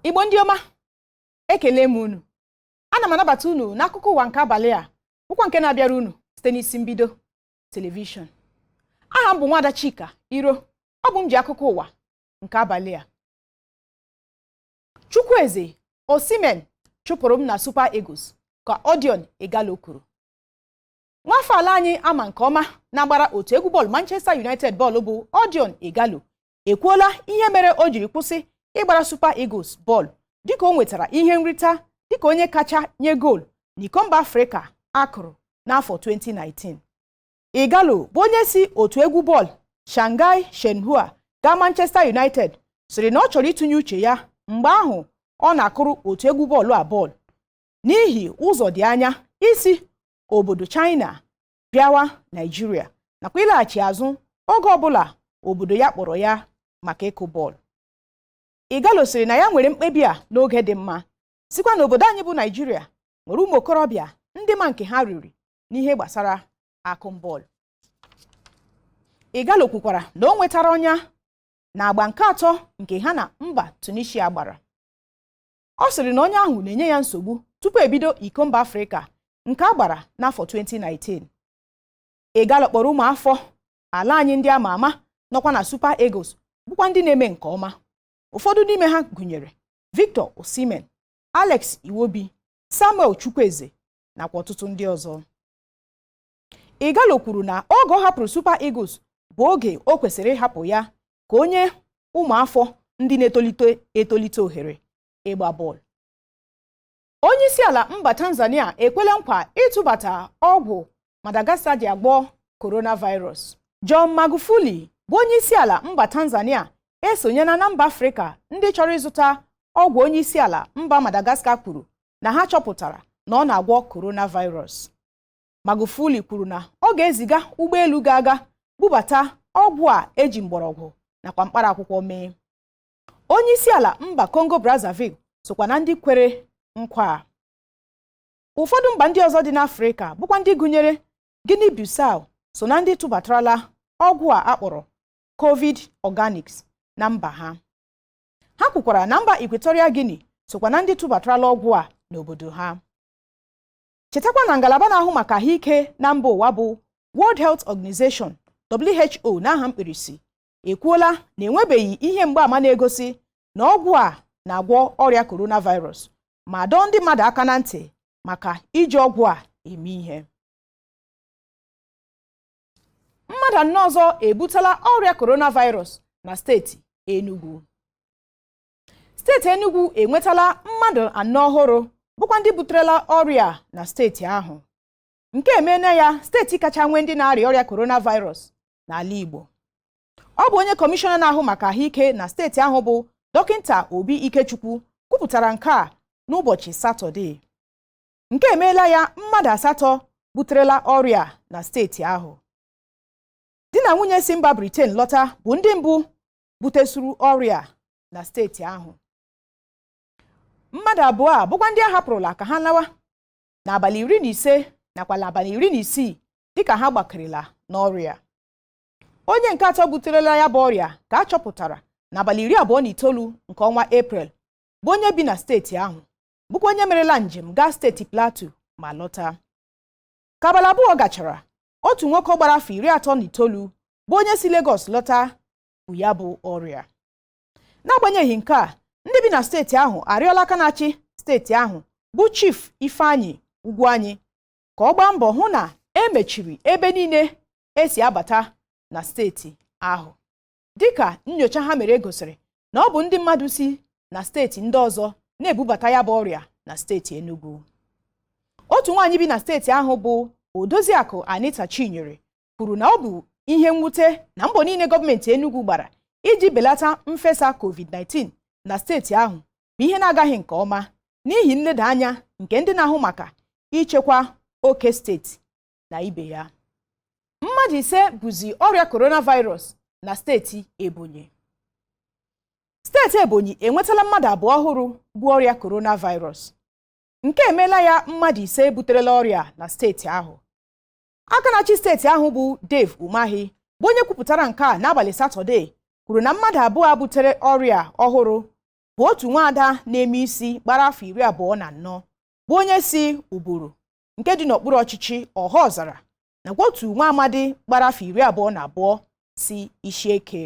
igbo ndị ọma ekele m unu ana m anabata unu n'akụkọ ụwa nke abalị a bụkwa nke na-abịara unu site n'isi mbido telivishọn aha m bụ nwada chika iro ọ bụ m ji akụkọ ụwa nke abalị a chukwueze osimhen chụpụrụ m na super eagles ka odion ighalo kwuru nwafọ ala anyị ama nke ọma na-agbara otu egwu bọọlụ manchester united bọọlụ bụ odion ighalo ekwuola ihe mere o jiri kwụsị ịgbara Super Eagles bọọlụ dịka o nwetara ihe nrita dịka onye kacha nye goolu n'iko mba Afrịka akụrụ n'afọ 2019 Ighalo bụ onye si otu egwu bọọlụ Shanghai Shenhua gaa Manchester United sịrị na ọ chọrọ ịtụnye uche ya mgbe ahụ ọ na-akụrụ otu egwu bọọlụ a bọọlụ n'ihi ụzọ dị anya isi obodo China bịawa Naịjirịa nakwa ịlaghachi azụ oge ọbụla obodo ya kpọrọ ya maka ịkụ bọọlụ Ighalo sịrị na ya nwere mkpebi a n'oge dị mma sịkwa na obodo anyị bụ Naịjirịa nwere ụmụ okorobịa ndị ma nke ha riri n'ihe gbasara akụm bọọlụ Ighalo kwukwara na o nwetara ọnya na agba nke atọ nke ha na mba Tunisia gbara ọ sịrị na ọnya ahụ na-enye ya nsogbu tupu ebido iko mba afrịka nke a gbara n'afọ 2019 Ighalo kpọrọ ụmụafọ ala anyị ndị ama ama nọkwa na Super Eagles bụkwa ndị na-eme nke ọma ụfọdụ n'ime ha gụnyere Victor Osimhen Alex Iwobi Samuel Chukwueze nakwa ọtụtụ ndị ọzọ Ighalo kwuru na oge ọ hapụrụ Super Eagles bụ oge o kwesịrị ịhapụ ya ka o nye ụmụafọ ndị na-etolite etolite ohere ịgba bọọlụ onye isi ala mba Tanzania ekwela nkwa ịtụbata ọgwụ Madagascar ji agwọ coronavirus John Magufuli bụ onye isi ala mba Tanzania esonyela na mba Afrịka ndị chọrọ ịzụta ọgwụ onye isi ala mba Madagascar kwuru na ha chọpụtara na ọ na-agwọ coronavirus Magufuli kwuru na ọ ga-eziga ụgbọelu ga-aga bubata ọgwụ a eji mgbọrọgwụ nakwa mkpara akwụkwọ mee onye isi ala mba Congo Brazzaville sokwa na ndị kwere nkwa a ụfọdụ mba ndị ọzọ dị n'Afrịka bụkwa ndị gụnyere Guinea Bissau so na ndị tụbatarala ọgwụ a akpọrọ covid organics na mba ha ha kwukwara na mba Equatorial Guinea sokwa na ndị tụbatarala ọgwụ a n'obodo ha chetakwa na ngalaba na-ahụ maka ahụike na mba ụwa bụ World Health Organization WHO n'aha mkpirisi ekwuola na enwebeghị ihe mgbaama na-egosi na ọgwụ a na-agwọ ọrịa coronavirus ma dọọ ndị mmadụ aka na ntị maka iji ọgwụ a eme ihe mmadụ anọ ọzọ ebutela ọrịa coronavirus na steeti Enugwu steeti Enugu enwetala mmadụ anọ ọhụrụ bụkwa ndị buterela ọrịa na steeti ahụ nke emeela ya steeti kacha nwee ndị na-arịa ọrịa coronavirus n'ala Igbo ọ bụ onye kọmishọna na-ahụ maka ahụike na steeti ahụ bụ dọkịta Obi Ikechukwu kwupụtara nke a n'ụbọchị Satọde nke emeela ya mmadụ asatọ buterela ọrịa na steeti ahụ di na nwunye si mba Britain lọta bụ ndị mbụ butesuru ọrịa na steeti ahụ mmadụ abụọ a bụkwa ndị a hapụrụla ka ha lawa n'abalị iri na ise nakwa n'abalị iri na isii dịka ha gbakerela n'ọrịa onye nke atọ buterela ya bụ ọrịa ka a chọpụtara n'abalị iri abụọ na itoolu nke ọnwa eprel bụ onye bi na steeti ahụ bụkwa onye merela njem gaa steeti plateau ma lọta ka abalị abụọ gachara otu nwoke gbara afọ iri atọ na itoolu bụ onye si Lagos lọta bu ya bụ ọrịa n'agbanyeghị nke a ndị bi na steeti ahụ arịọla aka na-achị steeti ahụ bụ Chief Ifeanyi Ugwuanyi ka ọ gbaa mbọ hụ na e mechiri ebe niile e si abata na steeti ahụ dịka nyocha ha mere gosiri na ọ bụ ndị mmadụ si na steeti ndị ọzọ na-ebubata ya bụ ọrịa na steeti Enugu otu nwaanyị bi na steeti ahụ bụ Odoziakụ Anita Chinyere kwuru na ọ bụ ihe mwute na mbọ niile gọọmenti Enugu gbara iji belata mfesa COVID-19 na steeti ahụ bụ ihe na-agaghị nke ọma n'ihi nleda anya nke ndị na-ahụ maka ichekwa oke steeti na ibe ya mmadụ ise buzi ọrịa coronavirus na steeti ebonyi steeti ebonyi enwetala mmadụ abụọ ọhụrụ bu ọrịa coronavirus nke emeela ya mmadụ ise buterela ọrịa na steeti ahụ aka na-achị steeti ahụ bụ Dave Umahi bụ onye kwupụtara nke a n'abalị satọde kwuru na mmadụ abụọ butere ọrịa ọhụrụ bụ otu nwaada na-eme isi gbara afọ iri abụọ na anọ bụ onye si Uburu nke dị n'okpuru ọchịchị Ọhaọzara nakwa otu nwa amadi gbara afọ iri abụọ na abụọ si Ishieke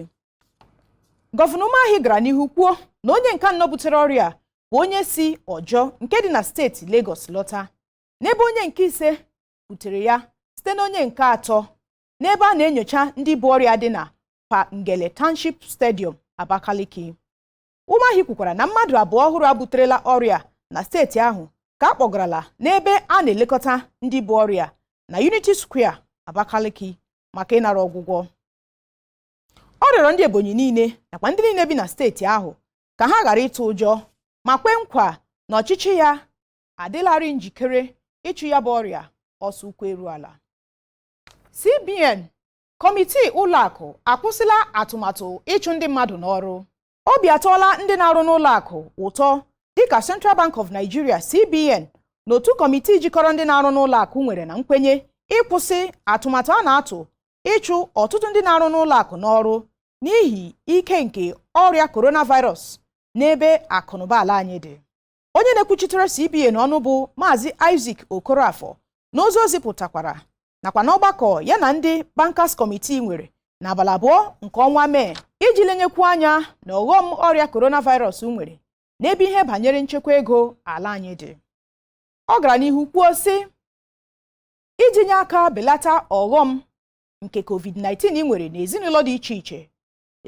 gọvanọ Umahi gara n'ihu kwuo na onye nke anọ butere ọrịa bụ onye si Ọjọ nke dị na steeti Lagos lọta n'ebe onye nke ise butere ya site na onye nke atọ n'ebe a na-enyocha ndị bu ọrịa dị na Pa Ngele Township Stadium Abakaliki Umahi kwukwara na mmadụ abụọ ọhụrụ a buterela ọrịa na steeti ahụ ka a kpọgarala n'ebe a na-elekọta ndị bu ọrịa na Unity Square Abakaliki maka ịnara ọgwụgwọ ọ rịọrọ ndị Ebonyi niile nakwa ndị niile bi na steeti ahụ ka ha ghara ịtụ ụjọ ma kwe nkwa na ọchịchị ya adịlarị njikere ịchụ ya bụ ọrịa ọsọ ụkwụ eru ala CBN kọmitii ụlọakụ akwụsịla atụmatụ ịchụ ndị mmadụ n'ọrụ obi atọọla ndị na-arụ n'ụlọakụ ụtọ dịka Central Bank of Nigeria CBN na otu kọmitii jikọrọ ndị na-arụ n'ụlọakụ nwere na nkwenye ịkwụsị atụmatụ a na-atụ ịchụ ọtụtụ ndị na-arụ n'ụlọakụ n'ọrụ n'ihi ike nke ọrịa coronavirus n'ebe akụnụba ala anyị dị onye na-ekwuchitere CBN ọnụ bụ Maazị Isaac Okorafor n'ozi o zipụtakwara nakwa n'ọgbakọ ya na ndị Bankers Committee nwere n'abalị abụọ nke ọnwa Mee iji lenyekwu anya na ọghọm ọrịa coronavirus nwere n'ebe ihe banyere nchekwa ego ala anyị dị ọ gara n'ihu kwuo sị iji nye aka belata ọghọm nke covid-19 nwere n'ezinụlọ dị iche iche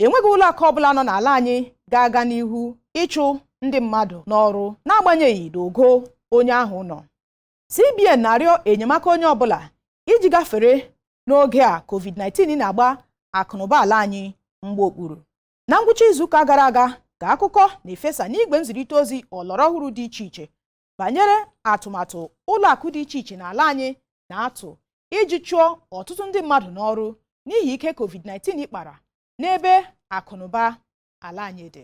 enweghị ụlọ akụ ọbụla nọ n'ala anyị ga-aga n'ihu ịchụ ndị mmadụ n'ọrụ n'agbanyeghị n'ogo onye ahụ nọ CBN na-arịọ enyemaka onye ọbụla iji gafere n'oge a COVID-19 na-agba akụnụba ala anyị mgba okpuru na ngwụcha izuụka gara aga ka akụkọ na-efesa n'igwe nzirịta ozi ọlọrọ ọhụrụ dị iche iche banyere atụmatụ ụlọ akụ dị iche iche n'ala anyị na-atụ iji chụọ ọtụtụ ndị mmadụ n'ọrụ n'ihi ike COVID-19 kpara n'ebe akụnụba ala anyị dị